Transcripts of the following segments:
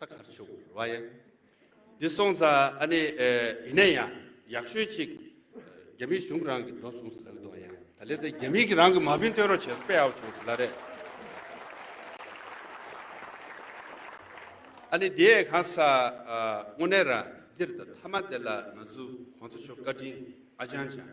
ད་གར་ཆུ་བོ་ར་ཡ་འདི་སོང་ཙ་ཨ་ནི་ཡིན་ན་ཡང་ཡག་ཤོས་ཅིག་རྒྱ་མི་གཞུང་རང་གི་འགྲོ་སོང་སུ་ལ་འདོང་ཡང་ད་ལེ་ད་རྒྱ་མི་གི་རང་གི་མ་བུན་སྟོན་རོགས་བྱེད་པའོ་བྱུང་སུ་ལ་རེད། ཨ་ནི་དེའི་གང་ས་དངོས་གནས་ར་འདིར་ད་ཐ་མ་དེ་ལ་ང་ཚུ་གོང་ཚ་ཤོ་ཀ་དྲིན་ཨ་ཅང་ཅང།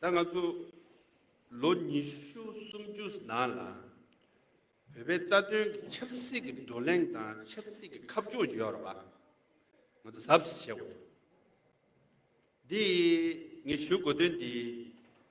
ད་ང་ཚོ་ལོ་ཉི་ཤུ་སུམ་ཅུ་ནང་ལ་བོད་པའི་རྩ་དོན་གྱི་ཆབ་སྲིད་ཀྱི་བགྲོ་གླེང་དང་ཆབ་སྲིད་ཀྱི་ཁ་ཕྱོགས་བརྗོད་པ་ང་ཚོ་གཟབ་གཟབ་བྱེད་དགོས། འདིས་ངས་ཞུ་དགོས་དོན་འདི།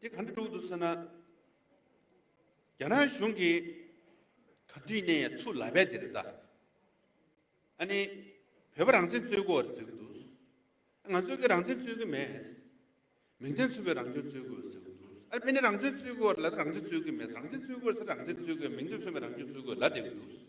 དེ་ག་འདྲ་འགྲོ་གི་འདུག་ཟེར་ན། རྒྱ་ནག་གཞུང་གིས་ག་དུས་ནས་ཚུར་ལ་བས་དེ་རེད་ད། ཨ་ནི་བོད་པ་རང་བཙན་རྩོད་དགོས་རེད་ཟེར་གི་འདུག། ང་ཚོས་ཀྱི་རང་བཙན་རྩོད་ཀྱི་མེད། མིང་དོན་མཚུངས་པའི་རང་སྐྱོང་རྩོད་དགོས་ཟེར་གི་འདུག་ཨ་རི་ཕན་ནས་རང་བཙན་རྩོད་དགོས་རེད་ལ་ད་རང་བཙན་རྩོད་ཀྱི་མེད་རང་བཙན་རྩོད་དགོས་ཟེར་རང་བཙན་རྩོད་དགོས་མིང་དོན་མཚུངས་པའི་རང་སྐྱོང་རྩོད་དགོས་ལབ་བསྡད་ཀྱི་འདུག།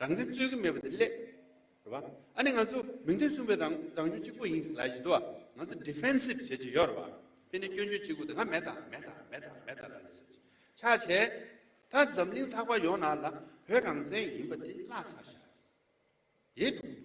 རང་བཙན་རྩོད་ཀྱི་མེད་པ་དེ་སླད། རེད་པ། ཨ་ནི་ང་ཚོ་མིང་དོན་མཚུངས་པའི་རང་རང་བྱུང་གཅིག་པོ་ཡིན་སླད་ཡིན་དུ། ང་ཚོ Defensive བྱེད་ཀྱི་ཡོད་རེད་པ། དེ་ནི་སྐྱོན་བརྗོད་གཅིག་པོ་དེ་སྔ་མེད་ད་མེད་ད་མེད་ད་མེད་ད་ལ་ནི་སེམས་ཆགས་བྱས། ད་འཛམ་གླིང་ཚགས་པར་ཡོངས་ནང་ལ་བོད་རང་བཙན་ཡིན་པ་དེ་བརླགས་ཚར་ཞེས་པ་རེད།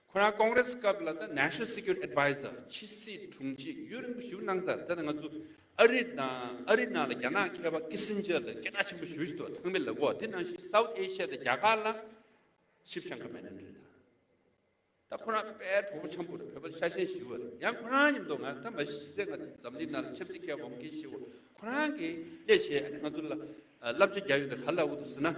ཁོ་རང་ཀོང་རེ་སི་སྐབས་ལ་ད National Security Adviser ཕྱི་སྲིད་དྲུང་ཆེ་ཡུ་རིང་པོ་བཞུགས་གནང་སར་ད་ང་ཚོ་ཨ་རི་དང་ཨ་རི་ནང་ལ་རྒྱ་ནག་མཁས་པ་ཀི་སིན་ཇར་ལ་སྐད་གྲགས་ཆེན་པོ་ཞུ་བཞིན་འདུག་ཚང་མས་ལབ་གོ་དེ་ནང་བཞིན South Asia དང་རྒྱ་གར་ལ་ཤིབ་ཤང་ག་མེད་ན་འདྲི་ད་ཁོ་རང་དཔལ་གྲོགས་པོ་ཆམ་པོ་རེད་བོད་པ་ཤ་ཞེན་ཞི་བ་རེད་ཡང་ཁོ་རང་ཉིད་མདོ་ང་ད་མ་ཤི་ཟེར་ང་འཛམ་གླིང་ནང་ལ་ཆབ་སྲིད་མཁས་བ་འོང་གི་ཤི་བ་ཁོ་རང་གི་ཡེ་ཤེས་ང་ཚོ་ལ་བསླབ་བྱ་རྒྱག་ཡོད་ད་ག་ལ་འོ་འདུག་ཟེར་ན།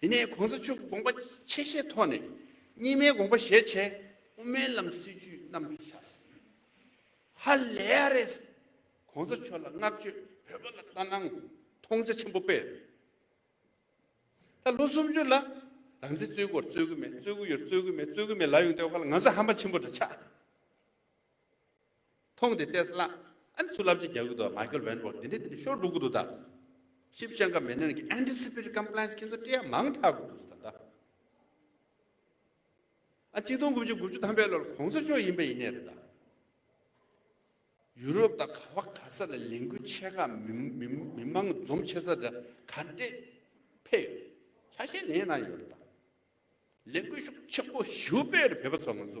དེ་ནས་གོང་ས་མཆོག་གི་དགོངས་པ་ཆེ་བཞེས་ཐོག་ནས་གཉིས་མའི་དགོངས་པ་བཞེས་བྱས་དབུ་མའི་ལམ་སྲིད་ཇུས་རྣམ་པར་བཞག། ཧ་ལས་ཡ་རེད། གོང་ས་མཆོག་ལ་བསྔགས་བརྗོད་བོད་པ་ལ་ལྟ་སྣང་མཐོང་ཆ་ཆེན་པོ་སྤེལ། ད་ལོ་སུམ་ཅུ་ལ་རང་བཙན་རྩོད་དགོས་རྩོད་གི་མེད་རྩོད་གི་ཡོད་རྩོད་གི་མེད་རྩོད་གི་མེད་ལབ་ཡོང་དེ་བ་ལ་ང་ཚོ་ཧམ་པ་ཆེན་པོ་འདྲ་ཆགས། མཐོང་སྟེ་བལྟས་སླ། ཨ་ནི་ཚུར་ལབ་ཅིག་རྒྱག་གི་འདུག་ང་སྐྱོར་བན་པོར་འདི་འདྲས་འདི་འདྲས་ཤོར་འགྲོ་གི་འདུག་ད། ཤིབ་བཤེར་འགའ་མེད་ནའི་ནང་གི་ཨན་ཏི་སི་པེ་ཏི་ཀམ་པླེན་སི་ཁྱེད་ཚོ་སྤྲེའུ་མང་དྲག་གི་འདུག་ཟེར་ད། ཨ་གཅིག་སྟོང་དགུ་བཅུ་དགུ་བཅུ་ཐམ་པའི་ལོར་གོང་ས་མཆོག་ཡིན་པ་ཡིན་ནའི་རེད་ད། ཡུ་རོབ་དང་ག་བ་ག་ས་ལ་ལས་འགུལ་ཆེ་ཁག་མི་མང་འཛོམས་ཆེ་ས་དེ་ག་འདྲས་འཕེལ་ཡོད་རེད། ཆ་ཤས་ལེན་གནང་ཡོད་རེད་ད། ལས་འགུལ་ཤུགས་ཆེན་པོ་ཞིའུ་པེ་རི་བོད་པ་ཚོ་ང་ཚོ་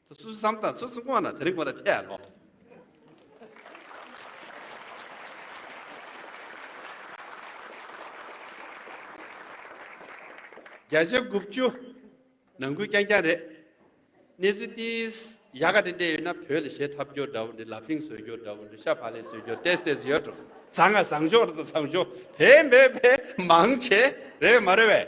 སུ་སུ་བསམ་དང་སུ་སུ་དངོས་ན་དེ་རིང་ཁོ་ལ་ཐལ་ཡ་ལོ། བརྒྱ་ཆ་དགུ་བཅུ་ནང་ཁུལ་རྐྱང་རྐྱང་རེད། གནས་ཚུལ་འདི་ཡག་ག་འདྲེ་འདྲེ་ཡོད་ན་བོད་ལ་ཞེ་ཐབ་རྒྱོ་འདྲ་བོ་འདྲེ་ལ་ཕིང་བཟོས་རྒྱོ་འདྲ་བོ་འདྲེ་ཤ་བྷ་ལེ་བཟོས་རྒྱོ་ཏེས་ཏེས་ཡོད་འགྲོ་བཟང་ང་བཟང་རྒྱོ་ར་ད་བཟང་རྒྱོ་དེ་མེད་པས་མང་བྱས་རེད་མ་རེད་བས།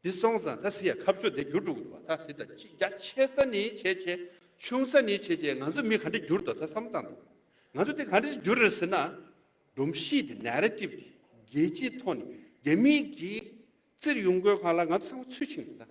འདི་སོང་ཙང་ད་སི་ཡ་ཁ་བཅོ་འདི་འགྱུར་འགྲོ་གི་འདུག་བ་ད་སི་ད་ཅི་རྒྱ་ཆེ་ས་ནི་ཆེ་ཆེ་ཆུང་ས་ནི་ཆེ་ཆེ་ང་ཚོ་མི་ག་འདྲི་འགྱུར་འདུག་ད་བསམ་བཏང་འདུག་ང་ཚོ་འདི་ག་འདྲི་འགྱུར་རེད་ཟེར་ན། སྒྲོམ་གཞི་འདི Narrative འདི་རྒྱལ་སྤྱིའི་ཐོག་ནས་རྒྱ་མི་གིས་བཙིར་ཡོང་དགོས་གང་ལ་ང་ཚོ་བསམ་བ་ཚུལ་ཆིངས་འདི་ད།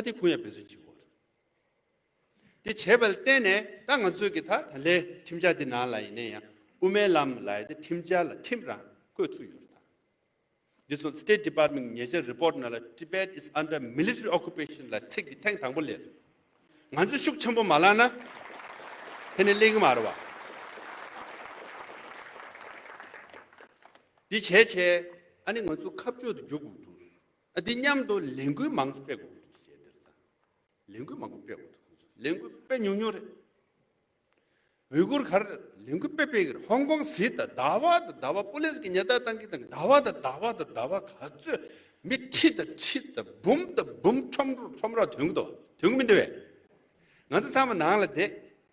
ད་དེ་གུ་ཡངས་འབད་བརྩོན་བགྱིད་དགོས། དེ་བྱས་པ་ལ་བརྟེན་ནས་ད་ང་ཚོས་ཀྱི་ད་ད་ལའི་ཁྲིམས་འཆར་འདི་ནང་ལ་ཡིན་ན་ཡང་དབུ་མའི་ལམ་ལ་ཡི་ད་ཁྲིམས་འཆར་ལ་ཁྲིམས་རང་བཀོད་ཐུབ་ཡོད་རེད་ད། འདི་སོགས State Department གྱི་ཉེ་ཆར Report ནང་ལ Tibet is under military occupation ལ་ཚིག་འདི་ཐེངས་དང་པོ་ལས་རེད། ང་ཚོས་ཤུགས་ཆེན་པོ་མ་བླངས་ན་དེ་ནི་གླེང་གི་མ་རེད་བ། འདི་བྱས་བྱས་ཨ་ནི་ང་ཚོ་ཁ་བཅོས་དུ་འགྱུར་དགོས་འདུག། འདི་མཉམ་དུ་ལས་འགུལ་མང་སྤེལ་དགོས་འདུག་ཟེར་དེར་ད་ལས་འགུལ་མང་པོ་སྤེལ་དགོས་འདུག་ཁོང་ཚོ་ལས་འགུལ་སྤེལ་ཉུང་ཉུང་རེད། ཝི་གུར་གར་ལས་འགུལ་སྤེལ་སྤེལ་གི་རེད་ཧོང་ཀོང་ཟི་དང་ཟླ་བ་དང་ཟླ་བ་པུ་ལིས་ཀྱི་ཉེ་བརྡ་གཏང་གི་དང་ཟླ་བ་དང་ཟླ་བ་དང་ཟླ་བ་ག་ཚོད་མི་ཁྲི་དང་ཁྲི་དང་འབུམ་དང་འབུམ་ཁྲོམ་རོ་ཁྲོམ་རོ་དོན་གི་དོན་གི་མི་འདི་བས། ང་ཚོ་ཚང་མ་ནང་ལ་བསྡད།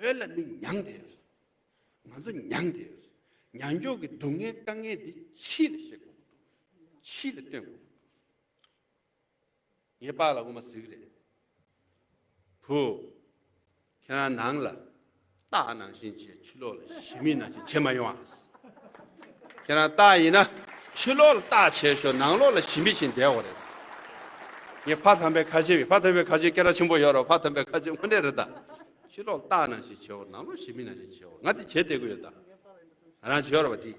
བོད་ལ་མི་མྱངས་དེ། ང་ཚོ་མྱངས་དེ། མྱང་མགྱོགས་ཀྱི་སྡུག་བསྔལ་དཀའ་ངལ་འདི་ཕྱིས་ལ་བཤད་དགོས་ཀྱི་འདུག། ཕྱིས་ལ་སྟོན་དགོས་ཀྱི་འདུག། ངས་པགས་ལ་དབུ་མ་གཟིགས་རེད། བུ། ཁྱེད་རང་ནང་ལ། སྟག་ནང་བཞིན་བྱས་ཕྱི་ལོག་ལ་ཞི་མི་ནང་བཞིན་བྱེད་མ་ཡོང་ཨ། ཁྱེད་རང་སྟག་ཡིན་ན་ཕྱི་ལོག་ལ་བརྟག་བྱས་ཤོག་ནང་ལོག་ལ་ཞི་མི་བྱིན་བསྡད་འོ་རེད། ངས་ཕ་དམ་པའི་ཁ་ཆེ་བས་ཕ་དམ་པའི་ཁ་ཆེ་སྐད་ར་ཆེན་པོ་ཡོད་རོགས་ཕ་དམ་པའི་ཁ་ཆེ་དངོས་གནས་རེད་ད། ཕྱི་ལོག་ལ་བརྟག་ནང་ཞི་བྱས་འོ་ནང་ལོག་ཞི་མི་ནང་ཞི་བྱས་འོ་ང་དེ་བྱེད་བསྡད་གི་ཡོད་ད། ང་རང་བྱས་རོགས་པ་དེ།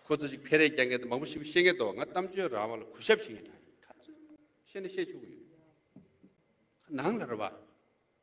ཁོ་ཚོ་ཅིག་ཕེ་རེ་རྒྱག་མཁན་དང་མང་པོ་ཞིབ་བཤད་མཁན་འདུག་ང་གཏམ་བརྗོད་རང་དབང་ལ་གུས་ཞབས་བྱེད་མཁན་གྲགས་ཡོད་ཁ་ཚོད་བཤད་ནས་བཤད་ཆོག་གི་ཡོད། ཁ་ནང་ལ་རོགས་པ།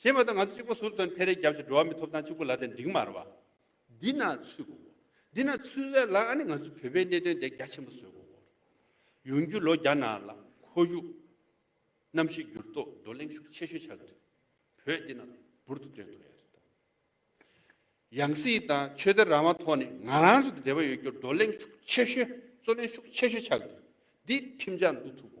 ཞེས་པ་དང་ང་ཚོ་གཅིག་པོ་ཟུར་དང་འཕེལ་རེས་རྒྱབ་ཀྱི་འགྲོ་བ་མི་ཐོབ་ཐང་གཅིག་པོ་ལ་དེ་འགྲིག་མ་རེད་པ། འདི་ན་ཚུད་གོ། འདི་ན་ཚུད་རེད་ལ་ནི་ང་ཚོའི་བོད་པའི་གནད་དོན་དེ་རྒྱ་ཆེན་པོ་བཟོས་གོ། ཡོང་རྒྱུ་ལོ་བརྒྱ་ནང་ལ་ཁོར་ཡུག་གནམ་གཤིས་འགྱུར་ལྡོག་བགྲོ་གླེང་ཤུགས་ཆེ་ཤོས་ཆགས་ཀྱི་རེད། བོད་འདི་ན་འབུར་དུ་དོན་ཐོག་ཡ་རེད་དམ། ཡང་སྲིད་དང་ཆོས་དད་རང་དབང་ཐོག་ནས་ང་རང་ཚོ་དང་འབྲེལ་བ་ཡོད་རྒྱུར་བགྲོ་གླེང་ཤུགས་ཆེ་ཤོས་བརྩོན་ལེན་ཤུགས་ཆེ་ཤོས་ཆགས་ཀྱི་རེད། འདི་ཁྲིམས་འཆར་འདུ་ཐུག་གོ།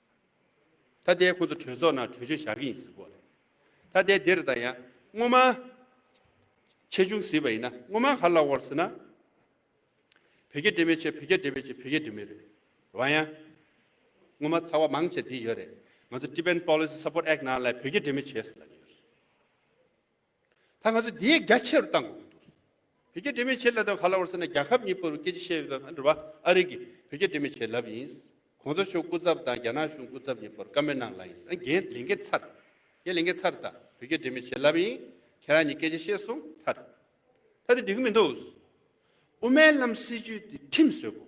ད་ལྟའི་ཁོ་ཚོ་གྲོས་ཚོགས་ནང་གྲོས་ཆོད་བཞག་གི་ཡིན་ཟེར་དགོས་རེད། ད་ལྟའི་འདིར་དང་ཡང་སྔོན་མ། ཆེ་ཆུང་ཟེར་བ་ཡིན་ན་སྔོན་མ་ག་ལ་བར་ཟེར་ན། བོད་རྒྱ་འབྲེལ་མེད་ཆེད་བོད་རྒྱ་འབྲེལ་བའི་ཆེད་བོད་རྒྱ་འབྲེལ་མེད་རེད། བ་ཡང། སྔོན་མ་ཚ་བ་མང་ཆེ་འདི་ཡོད་རེད། ང་ཚོ Defense Policy Support Act ནང་ལས་བོད་རྒྱ་འབྲེལ་མེད་བྱས་ཟེར་ལ་ཡོད་རེད། ད་ང་ཚོ་དེའི་རྒྱ་ཆེ་རུ་བཏང་དགོས་ཀྱི་འདུག་བོད་རྒྱ་འབྲེལ་མེད་བྱེད་ལབ་དང་ག་ལ་བར་ཟེར་ན་རྒྱ་ཁབ་གཉིས་པོ་རུ་སྐད་ཆ་བཤད་ཡོད་པ་འདྲ་བ་ཨ་རི་གིས་བོད་རྒྱ་འབྲེལ་མེད་བྱེད་ལབ་ཡིན། གོང་ས་མཆོག་སྐུ་ཚབ་དང་རྒྱ་ནག་གཞུང་སྐུ་ཚབ་གཉིས་པོར་བཀའ་མོལ་གནང་ལ་ཡིན། ཨ་རྒྱའི་ལས་འགན་ཚར། རྒྱའི་ལས་འགན་ཚར་དང་བོད་རྒྱ་འབྲེལ་མེད་བྱེད་ལབ་ཡིན། ཁྱེད་རང་གཉིས་སྐད་ཆ་བཤད་སོང་ཚར། ད་དེ་འགྲིག་གི་མི་འདུག། དབུ་མའི་ལམ་སྲིད་ཇུས་དེ་ཁྲིམས་བཟོས་དགོས་ཀྱི་འདུག།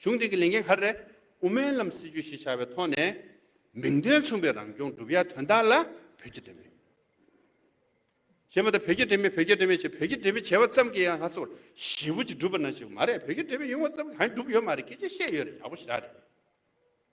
གཞུང་དེང་གི་ལས་འགན་གར་རེད། དབུ་མའི་ལམ་སྲིད་ཇུས་ཞེས་བྱ་བའི་ཐོག་ནས། མིང་དོན་མཚུངས་པའི་རང་སྐྱོང་སྒྲུབ་ཡ་དོན་དག་ལ་བོད་ཀྱི་འབྲེལ་མེད། ཞེས་མ་ཏོག་བོད་ཀྱི་འབྲེལ་མེད་བོད་ཀྱི་འབྲེལ་མེད་ཞེས་བོད་ཀྱི་འབྲེལ་མེད་བྱས་པ་ཙམ་གྱིས་ཡང་ལྷ་ས་བར་ཞི་བུ་ཅིག་འགྲུབ་པ་ན་ཞིག་མ་རེད་བོད་ཀྱི་འབྲེལ་མེད་ཡོང་བ་ཙམ་གྱིས་གང་ཡང་འགྲུབ་ཡོད་མ་རེད་སྐད་ཆ་བཤད་ཡོད་རེད་ཡག་པོ་ཞིག་རེད།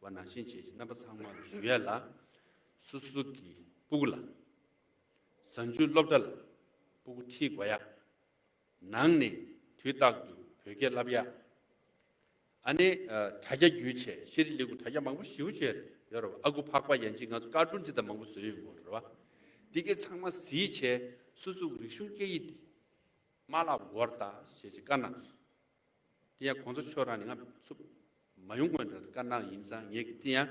བ་ནང་བཞིན་བྱས་ཀྱི་རྣམ་པ་ཚང་མ་ཞུ་ཡ་ལ། སུ་སུ་གི་སྤུ་གུ་ལ། བཟང་སྤྱོད་སློབ་གྲྭ་ལ་སྤུ་གུ་ཁྲིད་དགོ་ཡ། ནང་ནས་དུས་རྟག་ཏུ་བོད་སྐད་བསླབ་ཡ། ཨ་ནེ་དྲ་རྒྱ་རྒྱུད་ཆེ་ཤེས་རི་ལི་གུ་དྲ་རྒྱ་མང་པོ་ཞིའུ་བྱས་ཡོད་ར་བ་ཨ་གུ་ཕག་པ་ཡན་ཅིག་ང་ཚོ་ཀར་ཀྲུང་ཅི་ད་མང་པོ་བཟོས་ཡོད་མགོ་ར་བ་འདི་གི་ཚང་མ་གཟིགས་བྱས་སུ་སུ་གི་རིག་གཞུང་སྐད་ཡིག་དེ་མ་བསླབ་དགོ་ར་ད་བྱས་ཀྱི་ཀ་ནང་སུ། དེ་ཡང་གོང་ཚོ་ཆོས་རང་ནས་ང་ཚོ་མ་ཡོང་དགོས་འདྲ་དཀར་ནག་ཡིན་ཙང་ངེད་ཀྱི་དེ་ཡང་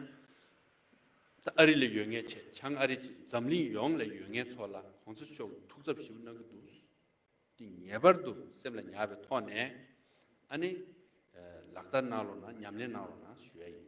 ད་ཨ་རི་ལ་ཡོད་ངེས་བྱས་བྱང་ཨ་རི་ཞེས་འཛམ་གླིང་ཡོངས་ལ་ཡོད་ངེས་ཚོ་ལ་གོང་ཚོ་མཆོག་གི་ཐུགས་འཚབ་ཞི་བོ་གནང་གི་འདུག་འདི་ངེས་པར་དུ་སེམས་ལ་ཉར་བའི་ཐོག་ནས་ཨ་ནི་ལག་བསྟར་གནང་རོགས་གནང་ཉམས་ལེན་གནང་རོགས་གནང་ཞུ་ཡ་ཡིན།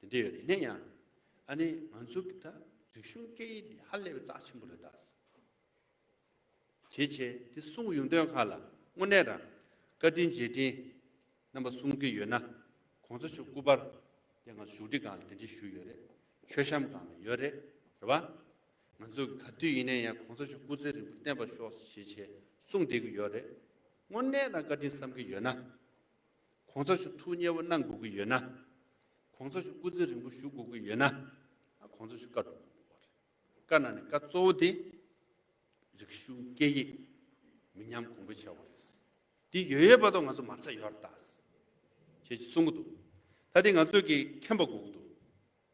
དེ་འདྲ་ཡོད་རེད་ནའི་ཡང། ཨ་ནི་ང་ཚོ་གི་ད་རིག་གཞུང་སྐད་ཡིག་འདི་ཧ་ལས་པའི་ཙག་ཆེན་པོ་རེད་དཱ། བྱེད་བྱེད་དེ་གསུངས་ཡོང་དོན་ཁག་ལ་དངོས་གནས་རང་བཀའ་དྲིན་རྗེས་དྲིན་རྣམ་པ་གསུངས་ཀྱི་ཡོད་ན་གོང་ས་མཆོག་སྐུ་པར་དེ་ང་བཞུགས་ཁྲི་སྒང་ལ་དེ་འདྲི་ཞུས་ཡོད་རེད་མཆོད་བཤམས་སྒང་ལ་ཡོད་རེད་རེད་བ། ང་ཚོ་གི་ག་དུས་ཡིན་ནའི་ཡང་གོང་ས་མཆོག་སྐུ་ཚེ་རིང་པོ་བརྟན་པར་ཤོག་བྱེད་བྱེད་གསུངས་བསྡད་ཀྱི་ཡོད་རེད་དངོས་གནས་རང་བཀའ་དྲིན་བསམ་གྱི་ཡོད་ན། གོང་ཚ་ཞུ་ཐུགས་མཉེས་པོ་གནང་དགོས་ཀྱི་ཡོད་ན། གོང་ཚ་ཞུ་སྐུ་ཚེ་རིང་པོ་ཞུ་དགོས་ཀྱི་ཡོད་ན། གོང་ཚ་ཞུ་བཀའ་སྒྲུབ་དགོས་པ་རེད། བཀའ་གནང་ནས་བཀའ་གཙོ་བོ་དེ། རིག་གཞུང་སྐད་ཡིག། མི་ཉམས་གོང་འཕེལ་བྱ་བ་རེད། འདི་ཡོད་ཡོད་པ་དང་ང་ཚོ་མ་ཚད་ཡོད་རེད། ཅེས་གསུང་གི་འདུག་ད་དེ་ང་ཚོས་ཀྱིས་མཁྱེན་པ་དགོས་ཀྱི་འདུག།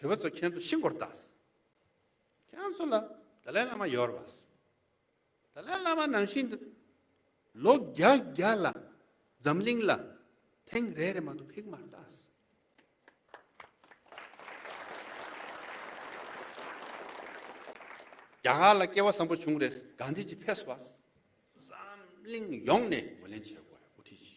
བུ་བ་ཚོ་ཁྱེད་ཚོ་ཤི་འགོར་གདའ། ཁྱེད་ཚོ་ལ་ད་ལའི་བླ་མ་ཡོར་བ། ད་ལའི་བླ་མ་ནང་བཞིན་དུ་ལོ་བརྒྱ་བརྒྱ་ལ་འཛམ་གླིང་ལ་ཐེངས་རེ་རེ་མ་གཏོགས་ཕིག་མར་གདའ། རྒྱ་གར་ལ་སྐྱེ་བ་བཟང་པོ་བྱུང་རེས་གངས་ཅན་གྱི་ཕས་བཟོ་བ། འཛམ་གླིང་ཡོངས་ནས་ངོས་ལེན་བྱེད་དགོས་དབུ་ཁྲིད་ཅིག་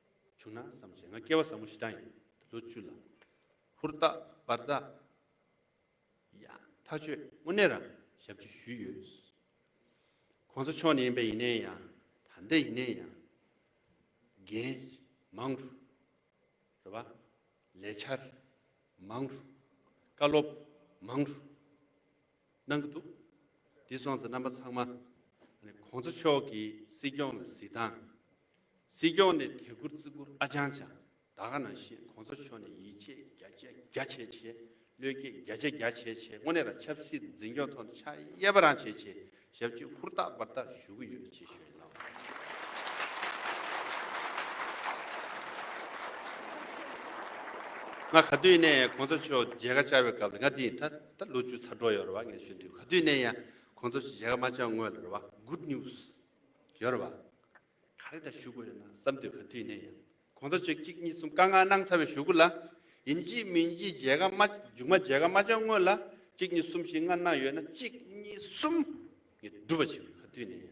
བྱུང་ན་བསམ་བྱས་ང་སྐྱེ་བ་ཟབ་མོ་ཞེ་དྲག་ཡིན། ལོ་བཅུ་ལ། ཧུར་ཐག་སྦར་ཐག། ཡང་ཐག་ཆོད་དངོས་གནས་རང་ཞབས་ཀྱིས་ཞུས་ཡོད། ཁོང་ཚོ་ཕྱོགས་ནས་ཡིན་པས་ཡིན་ནའི་ཡང་ད་ལྟའི་ཡིན་ནའི་ཡང། འགན། མང། རེ་བ། ལས་འཆར། མང། བཀའ་སློབ། མང། གནང་གི་འདུག་དེ་སོང་ཚེ་རྣམ་པ་ཚང་མ ྋགོང་ས་མཆོག་གི་སྲིད་སྐྱོང་ལ་གཟིགས་དང། སྲིད་སྐྱོང་ནས་དད་བཀུར་བརྩི་བཀུར་ཨ་ཅང་ཅང་ད་ག་ན་ཤེས ྋགོང་ས་མཆོག་ནས་ཡིད་ཆེས་རྒྱ་ཆེ་རྒྱ་ཆེ་བྱེད་བློས་སྐྱེད་རྒྱ་ཆེ་རྒྱ་ཆེ་བྱེད་དངོས་གནས་ར་ཆབ་སྲིད་འཛིན་སྐྱོང་ཐོག་ནས་ཕྱག་གཡས་པ་རང་བྱེད་བྱེད་ཞབས་ཀྱིས་ཧུར་ཐག་འབར་ཐག་ཞུ་གི་ཡོད་ཅེས་ཞུ་ཡི་གནང། ང་ག་དུས་ནས ྋགོང་ས་མཆོག་མཇལ་ཁ་བཅར་བའི་སྐབས་ལ་ང་འདི་ཡིན་ཐ། ད་ལོ་ཅུ་ཚ་འགྲོ་ཡོད་རེད་བ་ངས་ཞུ་འདྲི་ག་དུས་ནས་ཡང་ཁོང་ཚོ་ཞིག་བྱས་ག་མ་བྱས་དངོས་ལ་རེད་བ good news ཡོད་རེད་བ་ག་རེ་ད་ཞུ་དགོས་ཡོད་ན་བསམ་འདོད་ག་དུས་ནས་ཡང་ཁོང་ཚོ་ཅིག་གཅིག་གཉིས་གསུམ་ཀ་ང་གནང་ཚར་བའི་ཞུ་གུ་ལ་ཡིན་གྱིས་མིན་གྱིས་བྱས་ག་མ་རྒྱུགས་མ་བྱས་ག་མ་བྱས་དངོས་ལ་གཅིག་གཉིས་གསུམ་ཞིག་ང་གནང་ཡོད་ན་གཅིག་གཉིས་གསུམ་ངས་སྒྲུབ་བ་བྱས་ག་དུས་ནས་ཡང།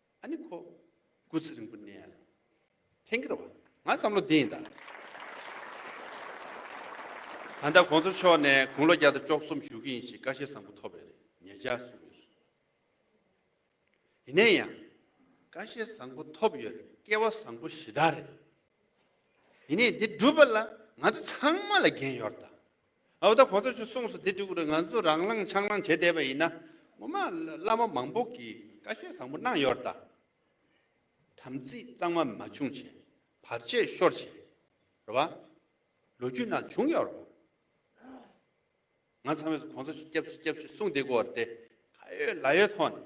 ཨ་ནི་ཁོ། སྐུ་ཚེ་རིང་པོ་གནས། ཐེངས་འགར་བ། ང་བསམ་བློ་འདི་ཡིན་ད། ད་ལྟ་གོང་ཚོ་མཆོག་ནས་དགུང་ལོ་བརྒྱ་དང་བཅོ་གསུམ་བཞུགས་ཀྱི་ཡིན་ཞེས་བཀའ་བཞེས་བཟང་པོ་ཐོབ་པའི་རེད་ངེས་ཅག་གསུངས་ཡོད་རེད། ཡིན་ནའི་ཡང། བཀའ་བཞེས་བཟང་པོ་ཐོབ་ཡོད་རེད་སྐལ་བ་བཟང་པོ་ཞི་དར་རེད། ཡིན་ནའི་འདི་སྒྲུབ་པ་ལ་ང་ཚོ་ཚང་མ་ལ་འགན་ཡོད་རེད་ད། ཨའོ་ད་གོ་ཚོ་ཆུ་གསུངས་སོ་དེ་དྲུག་རེ་ང་ཚོ་རང་བླངས་ཆང་བླངས་བྱེད་བསྡད་པ་ཡིན་ན་ངོ་མ་བླ་མ་མང་པོ་གིས་བཀའ་བཞེས་བཟང་པོ་གནང་ཡོར་ད། དམ་ཚིག་གཙང་མ་མ་བྱུང་བྱས་བར་ཆད་ཤོར་བྱས་རེད་བ། ལོ་རྒྱུས་ན་བྱུང་ཡོར་བ། ང་ཚང་མས་གོ་ཚོ་ཆུ་སྐྱབས་སུ་སྐྱབས་སུ་གསུངས་དེ་གོ་རེད་དེ་ཁ་ཡོད་ལ་ཡོད་ཐོག་ནས།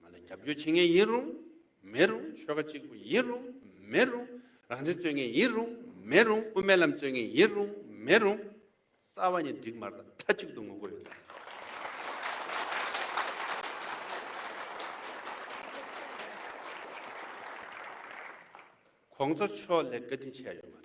ང་ལ་རྒྱབ་སྐྱོར་བྱེད་མཁན་ཡིན་རུང་མེད་རུང་ཆོལ་ཁ་གཅིག་པུ་ཡིན་རུང་མེད་རུང་རང་བཙན་རྩོད་མཁན་ཡིན་རུང་མེད་རུང་དབུ་མའི་ལམ་རྩོད་མཁན་ཡིན་རུང་མེད་རུང་རྩ་བ་ནས་འགྲིག་མ་རེད་མཐའ་གཅིག་ཏུ་ངོ་རྒོལ་ཡོད་རེད། གོང་ས་མཆོག་ལས་བཀའ་དྲིན་ཆེ་ཡ་ཡོད་མ་རེད།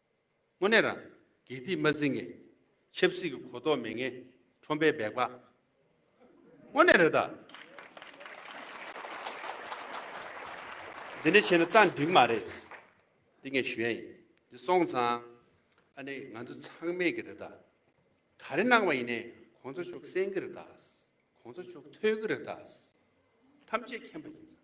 དངོས་གནས་རང། དགེ་སྡིག་མ་འཛིན་ངེས། ཆབ་སྲིད་ཀྱི་གོ་རྟོགས་མེད་ངེས། ཁྲོམ་པའི་འབད་པ། དངོས་གནས་རེད་ད། འདི་འདྲ་བྱས་ན་རྩ་འགྲིག་མ་རེད། འདི་ངས་ཞུ་ཡ་ཡིན། འདི་སོང་ཙང། ཨ་ནི་ང་ཚོ་ཚང་མེད་ཀྱི་རེད་ད། ག་རེ་གནང་བ་ཡིན་ནའི་གོང་ཚོགས་མཆོག་གསན་གྱི་རེད་ད། གོང་ཚོགས་མཆོག་ཐོས་ཀྱི་རེད་ད། ཐམས་ཅད་མཁྱེན་པ་ཡིན་ཙང།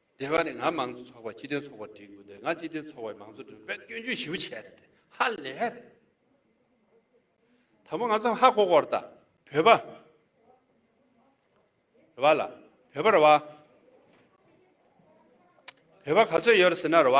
དེ་བས་ནས་ང་མང་གཙོ་ཚོགས་པ་སྤྱི་མཐུན་ཚོགས་པར་བསྒྲིག་དགོས་འདོད་ང་སྤྱི་མཐུན་ཚོགས་པའི་མང་གཙོ་སྒྲུབ་པའི་སྐྱོན་བརྗོད་ཞིབ་བྱས་རེད་དེ་ཧ་ལས་རེད་ད་མོ་ང་ཚོ་ཧ་གོ་གོ་རེད་ད་བོད་པ་རེད་བ་ལ་བོད་པ་རེད་བ་བོད་པ་ག་ཚོད་ཡོད་རེད་ཟེར་ན་རེད་བ།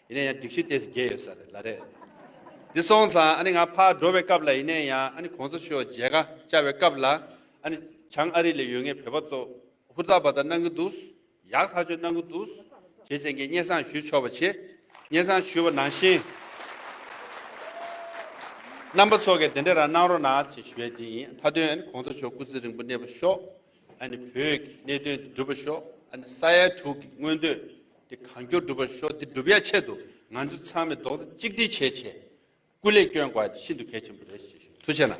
ཡིན་ན་ཡང་སྒྲིག་གཞི་དེས་འགལ་ཡོད་ས་རེད་ལ་རེད། འདི་སོང་ཙང་ཨ་ནི་ང་ཕར་འགྲོ་བའི་སྐབས་ལ་ཡིན་ན་ཡང་ཨ་ནི་གོང་ས་ཤོག་མཇལ་ཁ་བཅར་བའི་སྐབས་ལ་ཨ་ནི་བྱང་ཨ་རི་ལ་ཡོད་ངེས་བོད་པ་ཚོ་ཧུར་ཐག་པ་ད་གནང་གི་འདུག་ཡག་ཐག་ཆོད་གནང་གི་འདུག་བྱེད་བྱེད་མཁན་སྙན་བཟང་ཞུ་ཆོག་པ་བྱེད། སྙན་བཟང་ཞུ་བ་ནང་བཞིན། རྣམ་པ་ཚོ་གས་དེ་འདྲ་རང་གནང་རོགས་གནང་ཅེས་ཞུ་བའི་དེ་ཡིན་མཐའ་དོན་ཨ་ནི་གོང་ས་ཤོག་སྐུ་ཚེ་རིང་པོ་གནས་པ་ཤོག་ཨ་ནི་བོད་ཀྱི་གནད་དོན་འདི་འགྲུབ་པ་ཤོག་ཨ་ནི་ས་ཡ་དྲུག་གི་མངོན་འདོད་དེ་གང་མགྱོགས་འགྲུབ་པར་ཤོག་འདི་འགྲུབ་ཡ་ཆེད་དུ་ང་ཚོ་ཚང་མས་རྡོག་རྩ་གཅིག་སྒྲིལ་བྱེད་ཆེད་སྐུ་ལས་བསྐྱོན་དགོས་པ་དེ་ཤིན་ཏུ་གལ་ཆེན་པོ་རེད་ཞེས་ཞུ་ཐུགས་ཆེ་གནང།